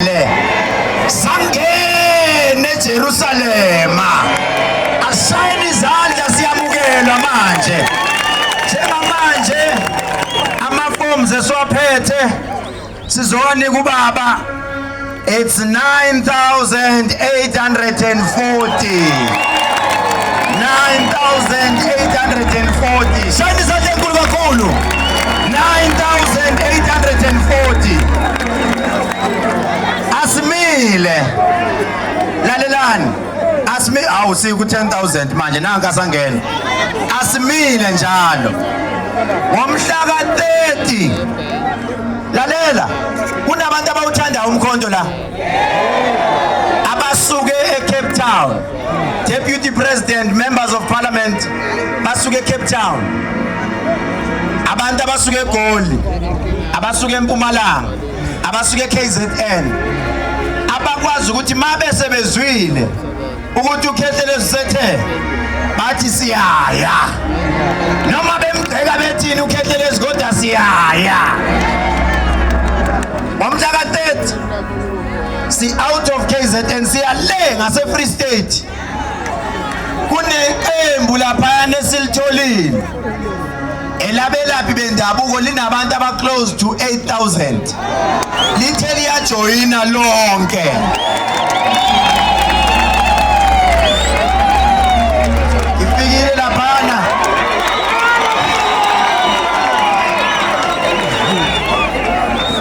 Israyele sangene eJerusalema. Asayine izandla siyamukelwa manje. Njengamanje amaforms esiwaphethe sizowanika ubaba it's 9840 9840 shayini isandla enkulu kakhulu 9840 asimile lalelani asimi awu siku 10000 manje nanka asangena asimile njalo ngomhla ka 30 lalela kunabantu abawuthanda umkhonto la abasuke eCape Town Deputy President, members of parliament basuke Cape Town. Abantu abasuke eGoli, abasuke eMpumalanga, abasuke eKZN. Abakwazi ukuthi mabe sebezwile ukuthi ukhehle lezisethe bathi siyaya. Noma bemgceka bethini ukhehle lezigoda siyaya. Wamhlaka 30 si out of KZN siya le ngase Free State kuneqembu lapha nesilitholile elabelaphi bendabuko linabantu aba close to 8000 lithe liyajoyina lonke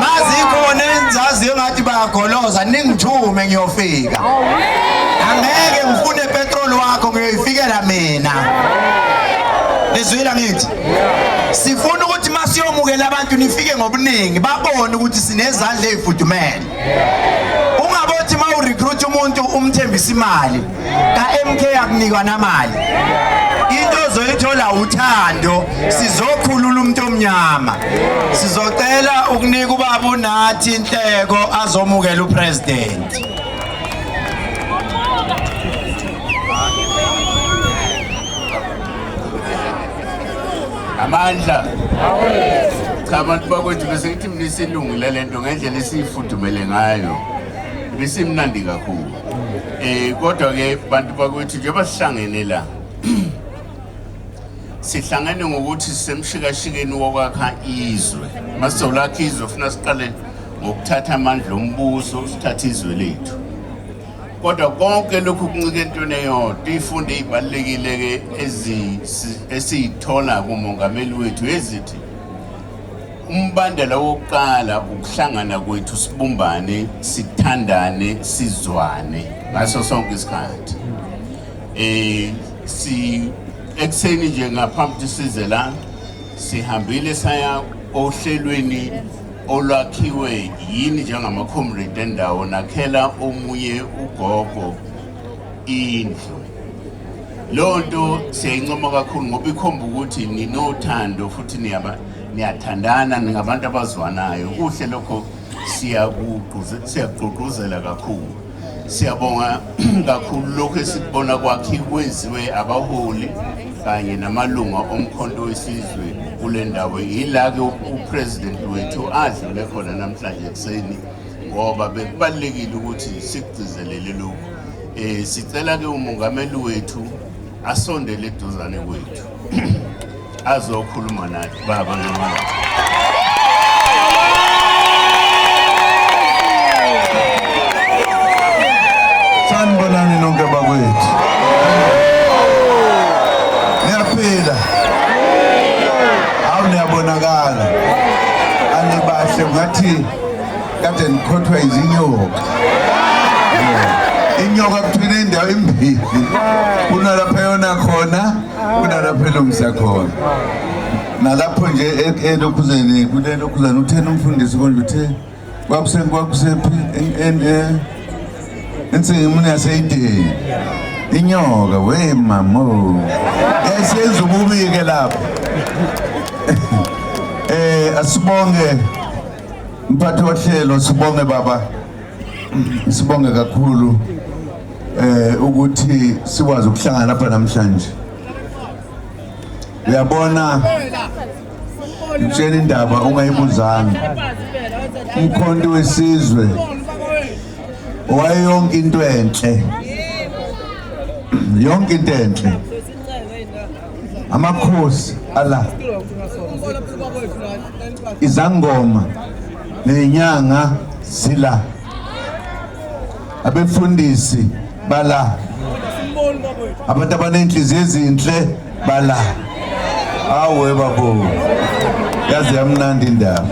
mazikhona engizaziyo engathi bayagoloza ningithume ngiyofika angeke ngifune petrol wakho ngiyoyifikela mina nizwile ngithi sifuna ukuthi masiyomukela abantu nifike ngobuningi babone ukuthi sinezandla ezifudumele ungabothi mawurecruit umuntu umthembisa imali kaMK akunikwa namali into ozoyithola uthando sizokhulula umuntu omnyama sizocela ukunika ubaba uNathi inhleko azomukela upresident amandla cha abantu bakwethu bese ngithi mina isilungile lento ngendlela esiyifudumele ngayo ibisimnandi kakhulu Eh kodwa ke bantu bakwethu njengoba sihlangene la sihlangene ngokuthi sisemshikashikeni wokwakha izwe masizolakha izwe funa siqale ngokuthatha amandla ombuso sithathe izwe lethu kodwa konke lokhu kuncike entweni eyodwa ifunde ibalulekile-ke esiyithola kumongameli wethu ezithi umbandela wokuqala ukuhlangana kwethu sibumbane sithandane sizwane ngaso sonke isikhathi eh si ekuseni nje ngaphambi size la sihambile saya ohlelweni olwakhiwe yini njengama-comrade endawo nakhela omunye ugogo indlu Leyo nto siyayincoma kakhulu ngoba ikhomba ukuthi ninothando futhi niyaba niyathandana ningabantu abazwanayo kuhle lokho siyakugqugquzela kakhulu siyabonga kakhulu lokhu esikubona kwakhe kwenziwe abaholi kanye namalunga omkhonto wesizwe kule ndawo yila-ke upresident wethu adlule khona namhlanje ekuseni ngoba bekubalulekile ukuthi sikugcizelele lokhu um sicela ke umongameli wethu asondele eduzane kwethu azokhuluma nathi baba ngamala sanibonani nonke bakwethu niyaphila awu niyabonakala anibahle ngathi kade ngikhothwa izinyoka inyoka kuthina indawo imbili kunalapha yona khona kunalapha elungisa khona nalapho nje e- elokhuzeni kulelokhuzeni uthena umfundisi konje uthe kwakusephi ensingimuni yaseyideni inyoka we mamo yayisenza ububi-ke lapho um asibonge Mphathi wohlelo sibonge baba sibonge kakhulu eh ukuthi sikwazi ukuhlangana lapha namhlanje uyabona ngitshela indaba ungayibuzanga umkhonto wesizwe owayeyonke into enhle yonke into enhle amakhosi ala izangoma nenyanga sila abefundisi bala abantu abanenhliziyo ezinhle bala awe babo yazi yamnandi indaba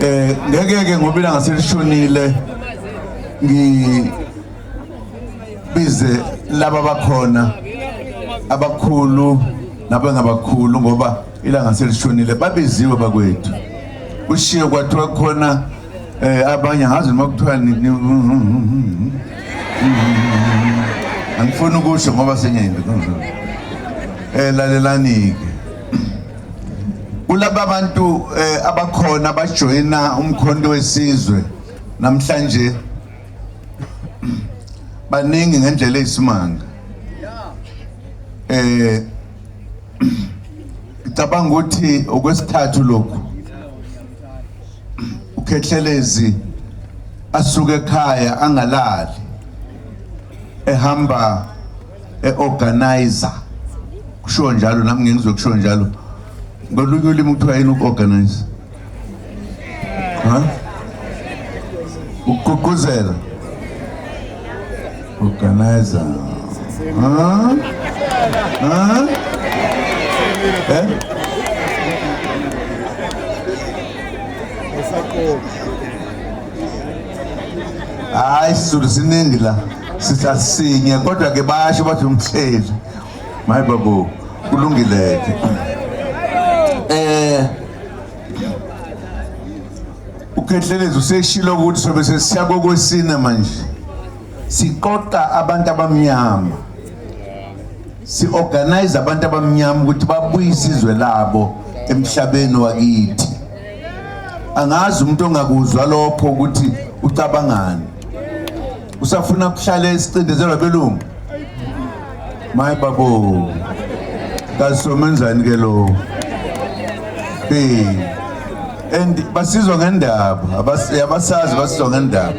eh ngeke ke ngoba ilanga selishonile ngi bize laba bakhona abakhulu nabangabakhulu ngoba ilanga selishonile babiziwe bakwethu kushiye kwathiwa khona eh abanye ngazi noma kuthiwa angifuni ukusho ngoba senyayimbi eh lalelani-ke kulaba bantu eh, abakhona abajoyina umkhonto wesizwe namhlanje baningi ngendlela eyisimanga eh ngicabanga ukuthi okwesithathu lokhu ukhethelezi asuke ekhaya angalali ehamba eorganizer kusho njalo nami ngizokusho njalo ngolunye ulimi kuthiwa yini uorganizer ha ukugqugquzela organizer ha ha eh hayi sizulu siningi la sithatha sinye kodwa ke basho bathi umhleli My babu, kulungile. Eh Ukhethelezi useshilo ukuthi sobe sesiya kokwesine manje. Siqoqa abantu abamnyama. Si organize abantu abamnyama ukuthi babuye isizwe labo emhlabeni wakithi. Angazi umuntu ongakuzwa lokho ukuthi ucabangani. usafuna kuhlala esicindezelwa abelungu maye babo kasomenzani ke lo eh and basizwa ngendaba abasazi basizwa ngendaba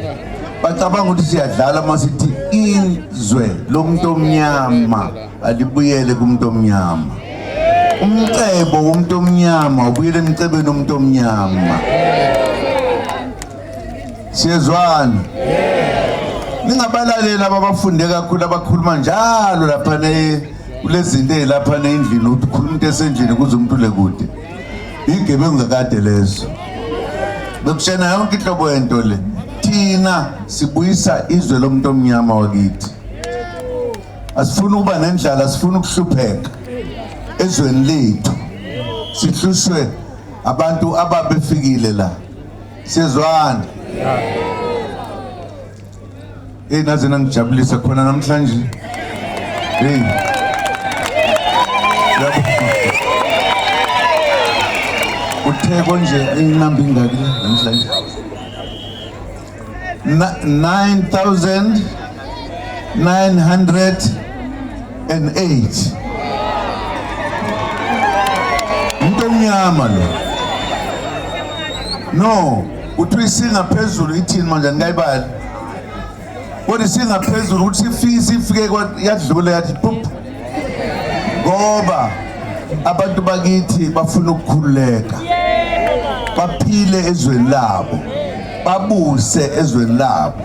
bacabanga ukuthi siyadlala uma sithi izwe lomuntu omnyama alibuyele kumuntu omnyama umcebo womuntu omnyama ubuyele emcebeni womuntu omnyama siyezwana ningabalaleli ababafunde kakhulu abakhuluma njalo lapha kulezinto ezilapha nendlini ukuthi ukhuluma into esendlini kuze umuntu ule kude igebengu kakade lezo bekushena yonke inhlobo yento le thina sibuyisa izwe lomuntu omnyama wakithi asifuni ukuba nendlala sifuna ukuhlupheka ezweni lethu sihlushwe abantu ababefikile la Sizwana. Hey naze nangijabulisa khona namhlanje. Hey. Uthe konje inamba ingaki namhlanje? 9000 908 umuntu omnyama lo no kuthiwa isingaphezulu ithini manje anikayibali kodwa isingaphezulu ukuthi sifise ifike yadlula yathi pup ngoba abantu bakithi bafuna ukukhululeka baphile ezweni labo babuse ezweni labo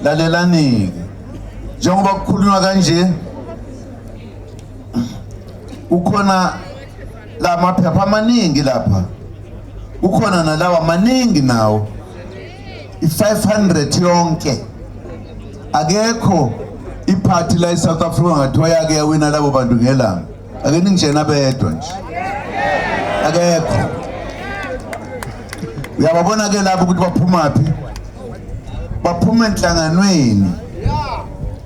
lalelanike njengoba kukhulunywa kanje kukhona la maphepha amaningi lapha kukhona nalawa maningi nawo i-500 yonke akekho iphathi la e-south africa ngathiwa yake yawina labo bantu ngelanga ake ningijena bedwa nje akekho uyababona ke lapho ukuthi baphuma phi baphuma enhlanganweni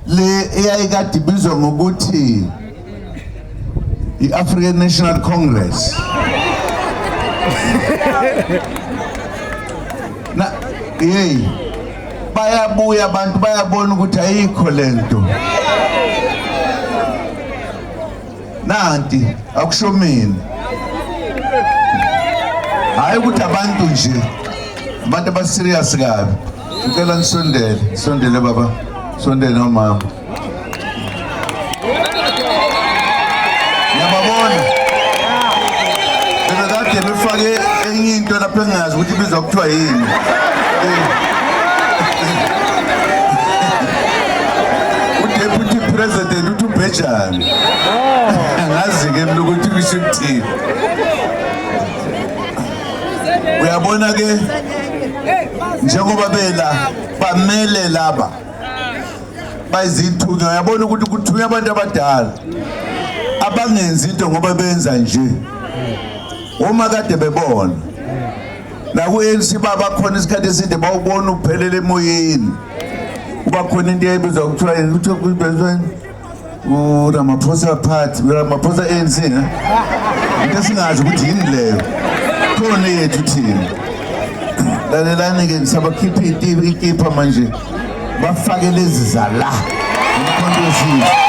le eyayikade ibizwa ngokuthi i-african national congress na yeyi bayabuya abantu bayabona ukuthi ayikho le nto nanti akusho mina hhayi ukuthi abantu nje abantu abaserious kabi ngicela nisondele sondele baba sondele nomama yababona bebekade befake enye into lapho engazi ukuthi ibizwa kuthiwa yini udeputy president uthi ubhejane oh. angazi-ke mna ukuthi kusho ukuthini uyabona ke njengoba bela bamele laba bayizithunywa uyabona ukuthi kuthunywa abantu abadala abangenzi into ngoba benza nje uma kade bebona naku-anc babakhona isikhathi eside bawubona uphelele emoyeni kuba khona into eyayibiza kuthiwa yena kuthiwa kuzibezweni uramaphosa party uramaphosa anc ne into esingazi ukuthi yini leyo khona yethu thina lalelani-ke ngisabakhipha ikipha manje bafake lezi zala umkhonto wesizwe